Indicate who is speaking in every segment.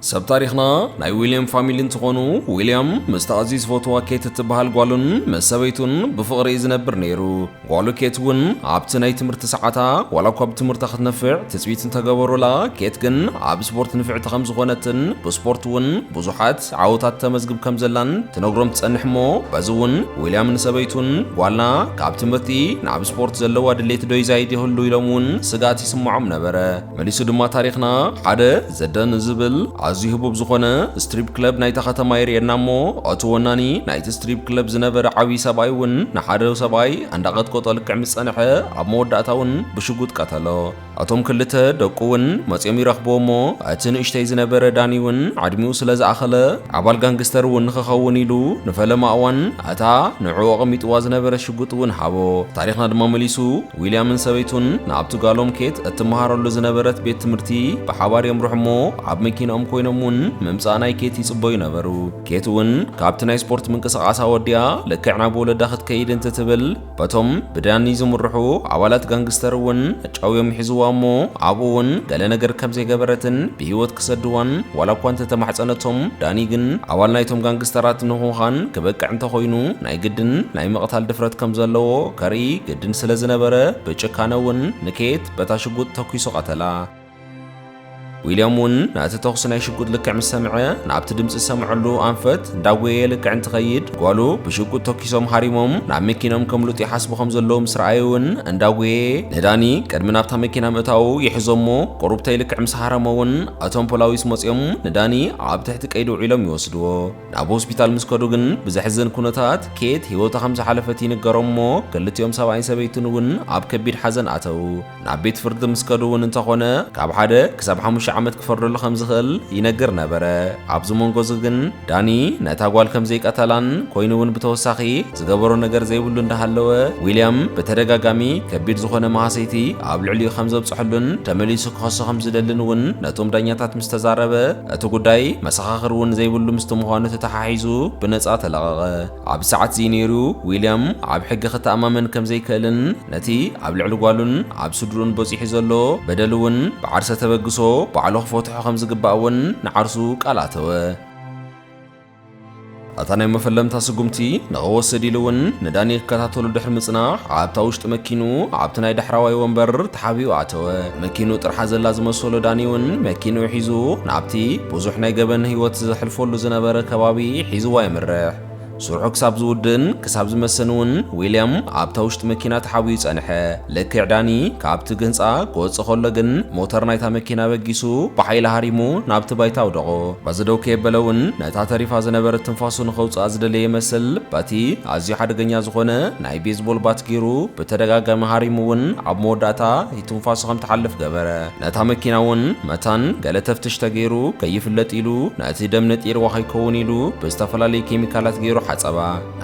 Speaker 1: ሰብ ታሪኽና ናይ ዊልያም ፋሚሊ እንትኾኑ ዊልያም ምስታ ኣዝዩ ዝፈትዋ ኬት እትበሃል ጓሉን ምስ ሰበይቱን ብፍቕሪ እዩ ዝነብር ነይሩ። ጓሉ ኬት እውን ኣብቲ ናይ ትምህርቲ ሰዓታ ዋላ እኳ ብትምህርታ ክትነፍዕ ትጽቢት እንተገበሩላ ኬት ግን ኣብ ስፖርት ንፍዕቲ ከም ዝኾነትን ብስፖርት እውን ብዙሓት ዓወታት ተመዝግብ ከም ዘላን ትነግሮም ትጸንሕ እሞ በዚ እውን ዊልያም ንሰበይቱን ጓልና ካብ ትምህርቲ ናብ ስፖርት ዘለዋ ድሌት ዶ ይዛይድ ይህሉ ኢሎም እውን ስግኣት ይስምዖም ነበረ። መሊሱ ድማ ታሪኽና ሓደ ዘደን ዝብል ኣዝዩ ህቡብ ዝኾነ ስትሪፕ ክለብ ናይታ ከተማ የርእየና እሞ እቲ ወናኒ ናይቲ ስትሪፕ ክለብ ዝነበረ ዓብዪ ሰብኣይ እውን ንሓደ ሰብኣይ ኣንዳቐጥቆጦ ልክዕ ምስ ጸንሐ ኣብ መወዳእታ እውን ብሽጉጥ ቀተሎ እቶም ክልተ ደቁ እውን መጺኦም ይረኽብዎ እሞ እቲ ንእሽተይ ዝነበረ ዳኒ እውን ዕድሚኡ ስለ ዝኣኸለ ኣባል ጋንግስተር እውን ንኽኸውን ኢሉ ንፈለማ እዋን እታ ንዕኡ ኣቐሚጥዋ ዝነበረ ሽጉጥ እውን ሃቦ ታሪኽና ድማ መሊሱ ዊልያምን ሰበይቱን ናብቲ ጓሎም ኬት እትመሃረሉ ዝነበረት ቤት ትምህርቲ ብሓባር የምርሑ እሞ ኣብ መኪናኦም ኮይኖም እውን ምምጻእ ናይ ኬት ይጽበዩ ነበሩ። ኬት እውን ካብቲ ናይ ስፖርት ምንቅስቓሳ ወዲኣ ልክዕ ናብ ወለዳ ክትከይድ እንትትብል በቶም ብዳኒ ዝምርሑ ኣባላት ጋንግስተር እውን ጨውዮም ይሕዝዋ እሞ ኣብኡ እውን ገለ ነገር ከም ዘይገበረትን ብህይወት ክሰድዋን ዋላ እኳ እንተተማሕጸነቶም ዳኒ ግን ኣባል ናይቶም ጋንግስተራት ንኹዃን ክበቅዕ እንተኾይኑ ናይ ግድን ናይ ምቕታል ድፍረት ከም ዘለዎ ከርኢ ድን ስለ ዝነበረ ብጭካነ እውን ንኬት በታ ሽጉጥ ተኲሱ ቐተላ። ዊልያም እውን ነቲ ተኹሲ ናይ ሽጉጥ ልክዕ ምስ ሰምዐ ናብቲ ድምፂ ዝሰምዐሉ ኣንፈት እንዳጎየየ ልክዕ እንትኸይድ ጓሉ ብሽጉጥ ተኲሶም ሃሪሞም ናብ መኪኖም ከምልጡ ይሓስቡ ከም ዘለዉ ምስ ረኣየ እውን እንዳጎየየ ንዳኒ ቅድሚ ናብታ መኪና ምእታዉ ይሕዞ እሞ ቁሩብተይ ልክዕ ምስ ሃረሞ እውን እቶም ፖላዊስ መፂኦም ንዳኒ ኣብ ትሕቲ ቀይዲ ውዒሎም ይወስድዎ። ናብ ሆስፒታል ምስ ከዱ ግን ብዘሕዝን ኩነታት ኬት ህይወታ ከም ዝሓለፈት ይንገሮም እሞ ክልቲኦም ሰብኣይን ሰበይትን እውን ኣብ ከቢድ ሓዘን ኣተው። ናብ ቤት ፍርዲ ምስ ከዱ እውን እንተኾነ ካብ ሓደ ክሳብ ሓሙሽተ ዓመት ክፈርደሉ ከም ዝኽእል ይነግር ነበረ። ኣብዚ መንጎ እዚ ግን ዳኒ ነታ ጓል ከም ዘይቀተላን ኮይኑ እውን ብተወሳኺ ዝገበሮ ነገር ዘይብሉ እንዳሃለወ ዊልያም ብተደጋጋሚ ከቢድ ዝኾነ ማህሰይቲ ኣብ ልዕሊኡ ከም ዘብፀሐሉን ተመሊሱ ክኸሶ ከም ዝደልን እውን ነቶም ዳኛታት ምስ ተዛረበ እቲ ጉዳይ መሰኻኽር እውን ዘይብሉ ምስቲ ምዃኑ ተተሓሒዙ ብነጻ ተለቐቐ። ኣብዚ ሰዓትዚ ነይሩ ዊልያም ኣብ ሕጊ ክተኣማመን ከም ዘይክእልን ነቲ ኣብ ልዕሊ ጓሉን ኣብ ስድርኡን በጺሑ ዘሎ በደል እውን ብዓርሰ ተበግሶ ባዕሉ ክፈትሖ ከም ዝግባእ እውን ንዓርሱ ቃል ኣተወ። ኣታ ናይ መፈለምታ ስጉምቲ ንኸወስድ ኢሉ እውን ንዳኒ ክከታተሉ ድሕሪ ምጽናሕ ኣብታ ውሽጢ መኪኑ ኣብቲ ናይ ዳሕራዋይ ወንበር ተሓቢኡ ኣተወ። መኪኑ ጥርሓ ዘላ ዝመሰሎ ዳኒ እውን መኪንኡ ሒዙ ናብቲ ብዙሕ ናይ ገበን ህይወት ዘሕልፈሉ ዝነበረ ከባቢ ሒዝዋ የምርሕ። ስርሑ ክሳብ ዝውድእን ክሳብ ዝመሰን እውን ዊልያም ኣብታ ውሽጢ መኪና ተሓቢኡ ጸንሐ። ልክዕ ዳኒ ካብቲ ግህንጻ ክወጽእ ከሎ ግን ሞተር ናይታ መኪና በጊሱ ብሓይሊ ሃሪሙ ናብቲ ባይታ ኣውደቖ። በዚ ደው ከየበለ እውን ነታ ተሪፋ ዝነበረት ትንፋሱ ንኸውጽኣ ዝደለየ ይመስል በቲ ኣዝዩ ሓደገኛ ዝኾነ ናይ ቤዝቦል ባት ገይሩ ብተደጋጋሚ ሃሪሙ እውን ኣብ መወዳእታ እቲ ትንፋሱ ከም ትሓልፍ ገበረ። ነታ መኪና እውን መታን ገለ ተፍትሽ ተገይሩ ከይፍለጥ ኢሉ ነቲ ደም ነጢርዋ ከይከውን ኢሉ ብዝተፈላለዩ ኬሚካላት ገይሩ ሓጸባ።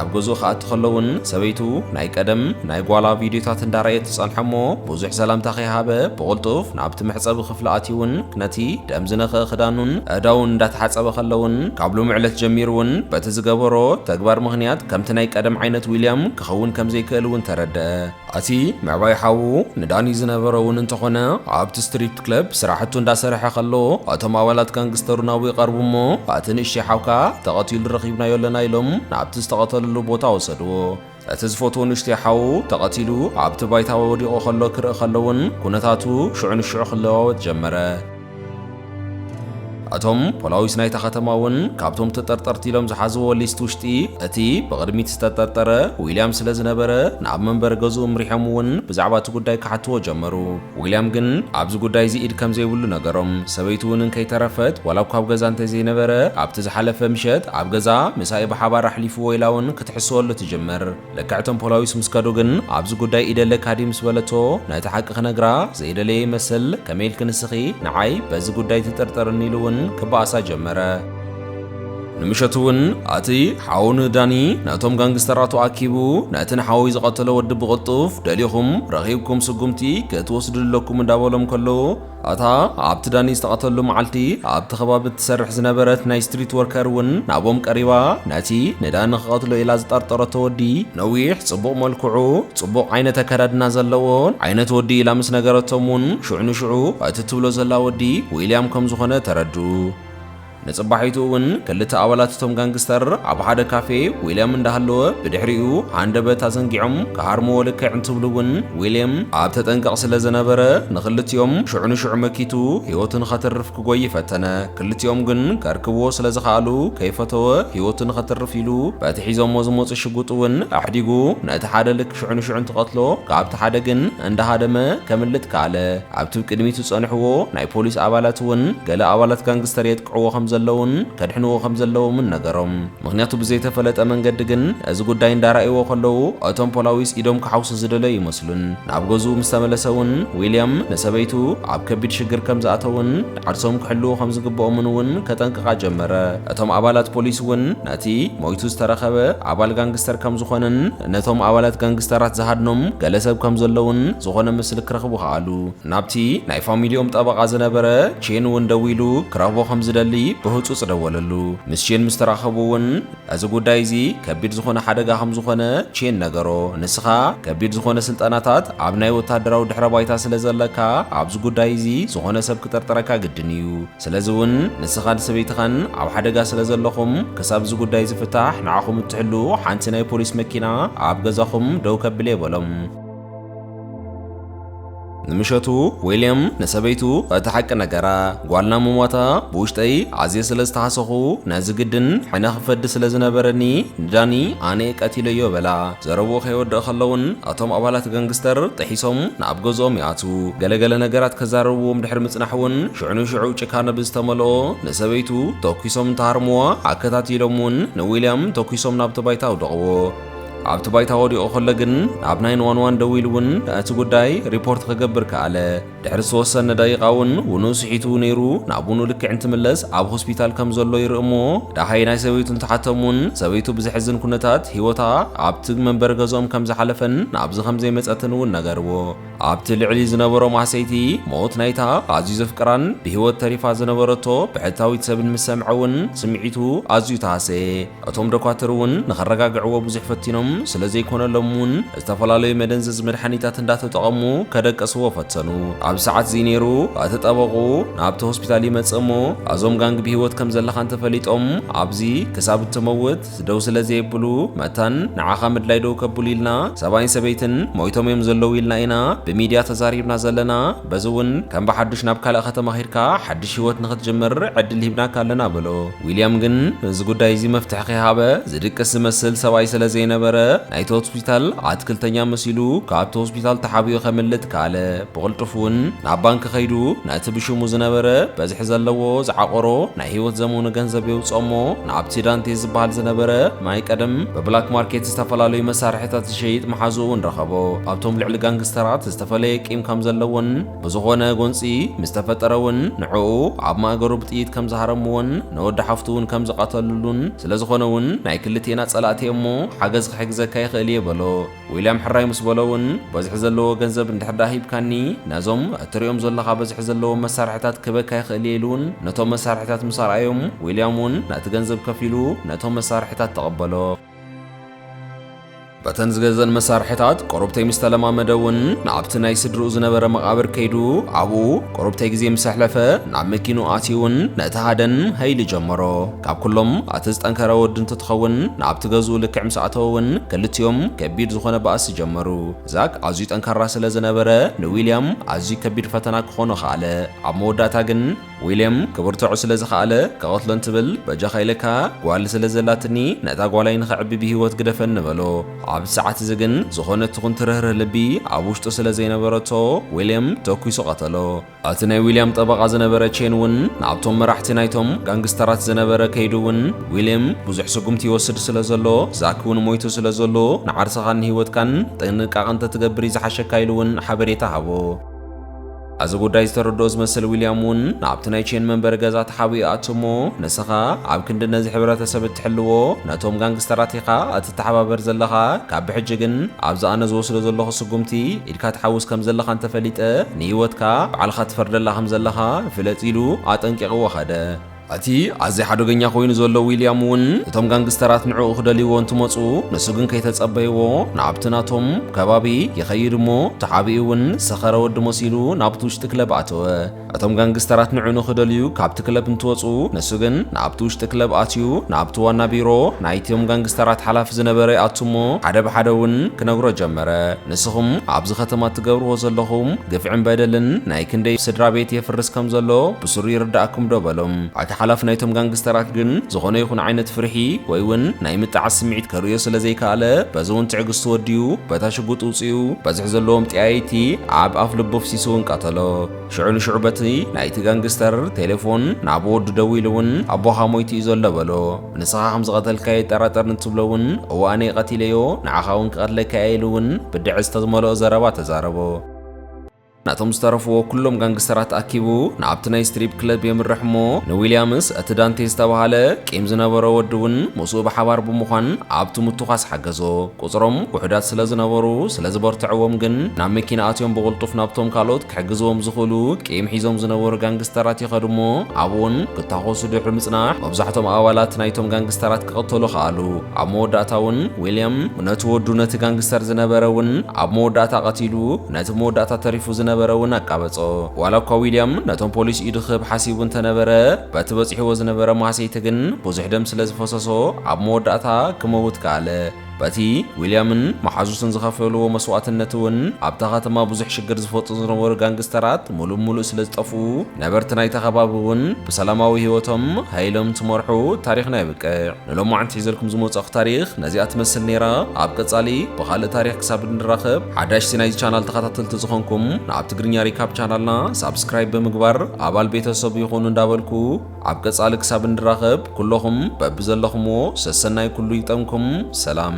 Speaker 1: ኣብ ገዝኡ ክኣቲ ከሎ እውን ሰበይቱ ናይ ቀደም ናይ ጓላ ቪድዮታት እንዳረኣየት ትጸንሖ እሞ ብዙሕ ሰላምታ ከይሃበ ብቕልጡፍ ናብቲ መሕጸቢ ክፍሊ ኣትዩውን ነቲ ደም ዝነኽአ ክዳኑን ኣእዳውን እንዳተሓጸበ ከሎውን ካብ ሎሚ ዕለት ጀሚሩውን በቲ ዝገበሮ ተግባር ምኽንያት ከምቲ ናይ ቀደም ዓይነት ዊልያም ክኸውን ከምዘይክእል እውን ተረደኣ። እቲ ምዕባይ ሓዉ ንዳኒ ዝነበሮ እውን እንተኾነ ኣብቲ ስትሪፕ ክለብ ስራሕቱ እንዳሰርሐ ከሎ እቶም ኣባላት ጋንግስተሩ ናብኡ ይቐርቡ እሞ እቲ ንእሽተይ ሓውካ ተቐቲሉ ረኺብናዮ ኣለና ኢሎም ናብቲ ዝተቐተለሉ ቦታ ወሰድዎ። እቲ ዝፈትዎ ንእሽተይ ሓዉ ተቐቲሉ ኣብቲ ባይታ ወዲቑ ከሎ ክርኢ ከሎ እውን ኩነታቱ ሽዑ ንሽዑ ክለዋወጥ ጀመረ። እቶም ፖላዊስ ናይታ ከተማ እውን ካብቶም ተጠርጠርቲ ኢሎም ዝሓዝዎ ሊስት ውሽጢ እቲ ብቕድሚት ዝተጠርጠረ ዊልያም ስለ ዝነበረ ናብ መንበሪ ገዝኡ ምሪሖም እውን ብዛዕባ እቲ ጉዳይ ክሓትዎ ጀመሩ። ዊልያም ግን ኣብዚ ጉዳይ እዚ ኢድ ከም ዘይብሉ ነገሮም። ሰበይቱ እውን እንከይተረፈት ዋላ እኳ ኣብ ገዛ እንተዘይነበረ ኣብቲ ዝሓለፈ ምሸት ኣብ ገዛ ምሳኢ ብሓባር ኣሕሊፍዎ ኢላ እውን ክትሕስወሉ ትጅምር። ልክዕ እቶም ፖላዊስ ምስ ከዱ ግን ኣብዚ ጉዳይ ኢድ ኣለካ ድዩ ምስ በለቶ ነቲ ሓቂ ክነግራ ዘይደለየ ይመስል ከመይ ኢልኪ ንስኺ ንዓይ በዚ ጉዳይ ትጥርጥርኒ ኢሉ እውን ክበኣሳ ጀመረ። ንምሸቱ እውን ኣቲ ሓው ንዳኒ ነቶም ጋንግስተራቱ ኣኪቡ ነቲ ንሓወይ ዝቐተሎ ወዲ ብቕልጡፍ ደሊኹም ረኺብኩም ስጉምቲ ክትወስድሉ ኣለኩም እንዳበሎም ከሎ እታ ኣብቲ ዳኒ ዝተቐተሉ መዓልቲ ኣብቲ ከባቢ እትሰርሕ ዝነበረት ናይ ስትሪት ወርከር እውን ናቦም ቀሪባ ነቲ ንዳኒ ክቐትሎ ኢላ ዝጠርጠረቶ ወዲ ነዊሕ ጽቡቕ መልክዑ ጽቡቕ ዓይነት ኣከዳድና ዘለዎ ዓይነት ወዲ ኢላ ምስ ነገረቶም እውን ሽዑ ንሽዑ እቲ እትብሎ ዘላ ወዲ ዊልያም ከም ዝኾነ ተረዱ። ንጽባሒቱ እውን ክልተ ኣባላት እቶም ጋንግስተር ኣብ ሓደ ካፌ ዊልያም እንዳሃለወ ብድሕሪኡ ሃንደበት ኣዘንጊዖም ክሃርምዎ ልክዕ እንትብሉ እውን ዊልያም ኣብ ተጠንቀቕ ስለ ዝነበረ ንኽልቲኦም ሽዑ ንሽዑ መኪቱ ህይወቱ ንኸትርፍ ክጎይ ፈተነ። ክልቲኦም ግን ከርክብዎ ስለ ዝኸኣሉ ከይፈተወ ህይወቱ ንኸትርፍ ኢሉ በቲ ሒዞሞ ዝመጹ ሽጉጥ እውን ኣሕዲጉ ነቲ ሓደ ልክ ሽዑ ንሽዑ እንትቐትሎ ካብቲ ሓደ ግን እንዳሃደመ ከምልጥ ከኣለ። ኣብቲ ቅድሚት ዝጸንሕዎ ናይ ፖሊስ ኣባላት እውን ገለ ኣባላት ጋንግስተር የጥቅዕዎ ከም ዘለዉን ከድሕንዎ ከም ዘለዎምን ነገሮም። ምኽንያቱ ብዘይተፈለጠ መንገዲ ግን ነዚ ጉዳይ እንዳራእይዎ ከለዉ እቶም ፖላዊስ ኢዶም ክሓውሱ ዝደለዩ ይመስሉን። ናብ ገዝኡ ምስ ተመለሰ እውን ዊልያም ንሰበይቱ ኣብ ከቢድ ሽግር ከም ዝኣተዉን፣ ዓርሶም ክሕልዉ ከም ዝግብኦምን እውን ከጠንቅቓ ጀመረ። እቶም ኣባላት ፖሊስ እውን ነቲ ሞይቱ ዝተረኸበ ኣባል ጋንግስተር ከም ዝኾነን ነቶም ኣባላት ጋንግስተራት ዝሃድኖም ገለ ሰብ ከም ዘለውን ዝኾነ ምስሊ ክረኽቡ ከኣሉ። ናብቲ ናይ ፋሚሊኦም ጠበቓ ዝነበረ ቼን እውን ደዊሉ ክረኽቦ ከም ዝደሊ ብህጹጽ ደወለሉ። ምስ ቼን ምስ ተራኸቡ እውን እዚ ጉዳይ እዚ ከቢድ ዝኾነ ሓደጋ ከም ዝኾነ ቼን ነገሮ። ንስኻ ከቢድ ዝኾነ ስልጠናታት ኣብ ናይ ወታደራዊ ድሕረ ባይታ ስለ ዘለካ ኣብዚ ጉዳይ እዚ ዝኾነ ሰብ ክጥርጥረካ ግድን እዩ። ስለዚ እውን ንስኻን ሰበይትኻን ኣብ ሓደጋ ስለ ዘለኹም ክሳብ እዚ ጉዳይ ዝፍታሕ ንዓኹም እትሕሉ ሓንቲ ናይ ፖሊስ መኪና ኣብ ገዛኹም ደው ከብል እየ በሎም። ንምሸቱ ዊልያም ንሰበይቱ እቲ ሓቂ ነገራ። ጓልና ምሟታ ብውሽጠይ ኣዝየ ስለ ዝተሓሰኹ ነዚ ግድን ሕነ ክፈዲ ስለ ዝነበረኒ ንዳኒ ኣነየ ቀቲለዮ በላ። ዘረብኡ ከይወድእ ከሎውን እቶም ኣባላት ገንግስተር ጥሒሶም ናብ ገዝኦም ይኣትዉ። ገለገለ ነገራት ከዛረብዎም ድሕሪ ምጽናሕውን ሽዑ ንሽዑ ጭካነ ብዝተመልኦ ንሰበይቱ ተኲሶም እንትሃርምዋ ኣከታቲሎምውን ንዊልያም ተኲሶም ናብቲ ባይታ ኣውደቕዎ። ኣብቲ ባይታ ወዲቑ ከሎ ግን ናብ ናይን ዋን ዋን ደዊሉ እውን እቲ ጉዳይ ሪፖርት ክገብር ከኣለ። ድሕሪ ዝተወሰነ ደቂቓ እውን ውኑ ስሒቱ ነይሩ። ናብ ውኑ ልክዕ እንትምለስ ኣብ ሆስፒታል ከም ዘሎ ይርኢ እሞ ደሃይ ናይ ሰበይቱ እንትሓቶም እውን ሰበይቱ ብዘሕዝን ኩነታት ህይወታ ኣብቲ መንበሪ ገዝኦም ከም ዝሓለፈን ናብዚ ከም ዘይመጸትን እውን ነገርዎ። ኣብቲ ልዕሊ ዝነበሮ ማህሰይቲ ሞት ናይታ ኣዝዩ ዘፍቅራን ብህይወት ተሪፋ ዝነበረቶ ብሕታዊት ሰብን ምስ ሰምዐ እውን ስምዒቱ ኣዝዩ ተሃሰየ። እቶም ዶኳትር እውን ንኸረጋግዕዎ ብዙሕ ፈቲኖም ስለ ዘይኮነሎም እውን ዝተፈላለዩ መደንዘዚ መድሓኒታት እንዳተጠቐሙ ከደቅስዎ ፈተኑ። ኣብ ሰዓት እዚ ነይሩ እቲ ጠበቕኡ ናብቲ ሆስፒታል ይመጽእ እሞ እዞም ጋንግ ብህይወት ከም ዘለኻ እንተፈሊጦም ኣብዚ ክሳብ እትመውት ደው ስለ ዘየብሉ መታን ንዓኻ ምድላይ ደው ከብሉ ኢልና ሰብኣይን ሰበይትን ሞይቶም እዮም ዘለዉ ኢልና ኢና ብሚድያ ተዛሪብና ዘለና በዚ እውን ከም ብሓዱሽ ናብ ካልእ ከተማ ኺድካ ሓድሽ ህይወት ንኽትጅምር ዕድል ሂብናካ ኣለና በሎ ዊልያም ግን እዚ ጉዳይ እዚ መፍትሒ ከይሃበ ዝድቅስ ዝመስል ሰብኣይ ስለ ዘይነበረ ናይቲ ሆስፒታል ኣትክልተኛ መሲሉ ካብቲ ሆስፒታል ተሓቢኡ ከምልጥ ከኣለ ብቕልጡፍ እውን ናብ ባንኪ ከይዱ ነቲ ብሽሙ ዝነበረ በዝሒ ዘለዎ ዝዓቆሮ ናይ ህይወት ዘመኑ ገንዘብ የውጽኦሞ ንኣብቲ ዳንቴ ዝበሃል ዝነበረ ናይ ቀደም ብብላክ ማርኬት ዝተፈላለዩ መሳርሒታት ዝሸይጥ መሓዝኡ እውን ረኸቦ። ኣብቶም ልዕሊ ጋንግስተራት ዝተፈለየ ቂም ከም ዘለዎን ብዝኾነ ጎንጺ ምስ ተፈጠረ እውን ንዕኡ ኣብ ማእገሩ ብጥይት ከም ዝሃረምዎን ንወዲ ሓፍቱ እውን ከም ዝቐተልሉን ስለዝኾነ እውን ናይ ክልቴና ጸላእቲ እየ'ሞ ሓገዝ ክሕግዘካ ይኽእል እየ በሎ። ዊልያም ሕራይ ምስ በሎ እውን በዝሒ ዘለዎ ገንዘብ እንድሕር ደኣ ሂብካኒ ነዞም እትርእዮም ዘለኻ በዝሒ ዘለዎም መሳርሒታት ክህበካ ይኽእል እየ ኢሉ እውን ነቶም መሳርሒታት ምስ ኣርኣዮም ዊልያም እውን ነቲ ገንዘብ ከፊሉ ነቶም መሳርሒታት ተቐበሎ። በተን ዝገዘን መሳርሒታት ቆርብተይ ምስ ተለማመደ እውን ናብቲ ናይ ስድርኡ ዝነበረ መቓብር ከይዱ ኣብኡ ቆርብተይ ግዜ ምስ ኣሕለፈ ናብ መኪንኡ ኣትዩ እውን ነቲ ሃደን ሀይ ኢሉ ጀመሮ። ካብ ኩሎም ኣቲ ዝጠንከረ ወዱ እንትትኸውን ናብቲ ገዝኡ ልክዕ ምስ ኣተወ ውን ክልቲኦም ከቢድ ዝኾነ ባእሲ ጀመሩ። ዛክ ኣዝዩ ጠንካራ ስለ ዝነበረ ንዊልያም ኣዝዩ ከቢድ ፈተና ክኾኖ ኸኣለ። ኣብ መወዳእታ ግን ዊልያም ክብርትዖ ስለ ዝኸኣለ ክቐትሎ እንትብል በጃኻ ኢለካ ጓል ስለ ዘላትኒ ነታ ጓላይ ንኸዕቢ ብሂወት ግደፈኒ በሎ። ኣብዚ ሰዓት እዚ ግን ዝኾነት ትኹን ትርህርህ ልቢ ኣብ ውሽጡ ስለ ዘይነበረቶ ዊልያም ተኲሱ ቀተሎ። እቲ ናይ ዊልያም ጠበቓ ዝነበረ ቼን እውን ናብቶም መራሕቲ ናይቶም ጋንግስተራት ዝነበረ ከይዱ እውን ዊልም ብዙሕ ስጉምቲ ይወስድ ስለ ዘሎ ዛክ እውን ሞይቱ ስለ ዘሎ ንዓርስኻን ንህይወትካን ጥንቃቐ እንተትገብር እዩ ዝሓሸካ ኢሉ እውን ሓበሬታ ሃቦ። እዚ ጉዳይ ዝተረድኦ ዝመስል ዊልያም እውን ናብቲ ናይ ቼን መንበሪ ገዛ ተሓቢኡ ይኣቱ እሞ ንስኻ ኣብ ክንዲ ነዚ ሕብረተሰብ እትሕልዎ ነቶም ጋንግስተራት ኢኻ እትተሓባበር ዘለኻ ካብ ብሕጂ ግን ኣብዚ ኣነ ዝወስዶ ዘለኹ ስጉምቲ ኢልካ ትሓውስ ከም ዘለኻ እንተ ፈሊጠ፣ ንህይወትካ ባዕልኻ ትፈርደላ ከም ዘለኻ ፍለጥ ኢሉ ኣጠንቂቕዎ ከደ። እቲ ኣዝዩ ሓደገኛ ኰይኑ ዘሎ ዊልያም እውን እቶም ጋንግስተራት ንዕኡ ክደልይዎ እንትመጹ፣ ንሱ ግን ከይተጸበይዎ ናብቲ ናቶም ከባቢ ይኸይድ እሞ ተሓቢኡ እውን ሰኸረ ወዲ መሲሉ ናብቲ ውሽጢ ክለብ ኣተወ። እቶም ጋንግስተራት ንዑ ንክደልዩ ካብቲ ክለብ እንትወጹ ንሱ ግን ናብቲ ውሽጢ ክለብ ኣትዩ ናብቲ ዋና ቢሮ ናይቲም ጋንግስተራት ሓላፊ ዝነበረ ይኣቱ እሞ ሓደ ብሓደ እውን ክነግሮ ጀመረ ንስኹም ኣብዚ ከተማ እትገብርዎ ዘለኹም ግፍዕን በደልን ናይ ክንደይ ስድራ ቤት የፍርስ ከም ዘሎ ብስሩ ይርዳእኩም ዶ በሎም ኣቲ ሓላፊ ናይቶም ጋንግስተራት ግን ዝኾነ ይኹን ዓይነት ፍርሒ ወይ እውን ናይ ምጥዓስ ስምዒት ከርእዮ ስለ ዘይከኣለ በዚ እውን ትዕግስቱ ወዲኡ በታ ሽጉጥ ውጽኡ በዚ ዘለዎም ጠያይቲ ኣብ ኣፍልቡ ኣፍሲሱውን ቀተሎ። ሽዑ ንሽዑ በቲ ናይቲ ጋንግስተር ቴሌፎን ናብ ወዱ ደዊሉውን ኣቦኻ ሞይቱ እዩ ዘሎ በሎ። ንስኻ ከም ዝቐተልካዮ ይጠራጠር እንትብሎውን እወ ኣነ'የ ቀቲለዮ፣ ንዓኻውን ክቐትለካ እየ ኢሉውን ብድዐ ዝተዝመልኦ ዘረባ ተዛረቦ። ነቶም ዝተረፍዎ ኩሎም ጋንግስተራት ኣኪቡ ናብቲ ናይ ስትሪፕ ክለብ የምርሕ እሞ ንዊልያምስ እቲ ዳንቴ ዝተባህለ ቂም ዝነበሮ ወዲውን ምስኡ ብሓባር ብምዃን ኣብቲ ምቱዃስ ሓገዞ። ቁጽሮም ውሑዳት ስለ ዝነበሩ፣ ስለ ዝበርትዕዎም ግን ናብ መኪና ኣትዮም ብቕልጡፍ ናብቶም ካልኦት ክሕግዝዎም ዝኽእሉ ቂም ሒዞም ዝነበሩ ጋንግስተራት ይኸዱ እሞ ኣብኡ'ውን ክታኾሱ ድሕሪ ምጽናሕ መብዛሕቶም ኣባላት ናይቶም ጋንግስተራት ክቕተሉ ከኣሉ። ኣብ መወዳእታ እውን ዊልያም ነቲ ወዱ ነቲ ጋንግስተር ዝነበረ እውን ኣብ መወዳእታ ቀቲሉ፣ ነቲ መወዳእታ ተሪፉ ዝነበረ እውን ኣቃበጾ። ዋላ እኳ ዊልያም ነቶም ፖሊስ ኢዱ ክህብ ሓሲቡ እንተ ነበረ፣ በቲ በጺሕዎ ዝነበረ ማህሰይቲ ግን ብዙሕ ደም ስለ ዝፈሰሶ ኣብ መወዳእታ ክመውት ከኣለ። በቲ ዊልያምን መሓዙትን ዝኸፈልዎ መስዋእትነት እውን ኣብታ ከተማ ብዙሕ ሽግር ዝፈጥሩ ዝነበሩ ጋንግስተራት ሙሉእ ብሙሉእ ስለ ዝጠፍኡ ነበርቲ ናይታ ከባቢ እውን ብሰላማዊ ህይወቶም ሃይሎም እንትመርሑ ታሪኽና የብቅዕ። ንሎማዕንቲ ሒዘልኩም ዝመጸእኹ ታሪኽ ነዚኣ ትመስል ነይራ። ኣብ ቀጻሊ ብኻልእ ታሪኽ ክሳብ እንራኸብ ሓዳሽቲ ናይዚ ቻናል ተኸታተልቲ ዝኾንኩም ንኣብ ትግርኛ ሪካፕ ቻናልና ሳብስክራይብ ብምግባር ኣባል ቤተሰብ ይኹኑ እንዳበልኩ ኣብ ቀጻሊ ክሳብ እንራኸብ ኩሎኹም በብዘለኹምዎ ሰሰናይ ኩሉ ይግጠምኩም። ሰላም።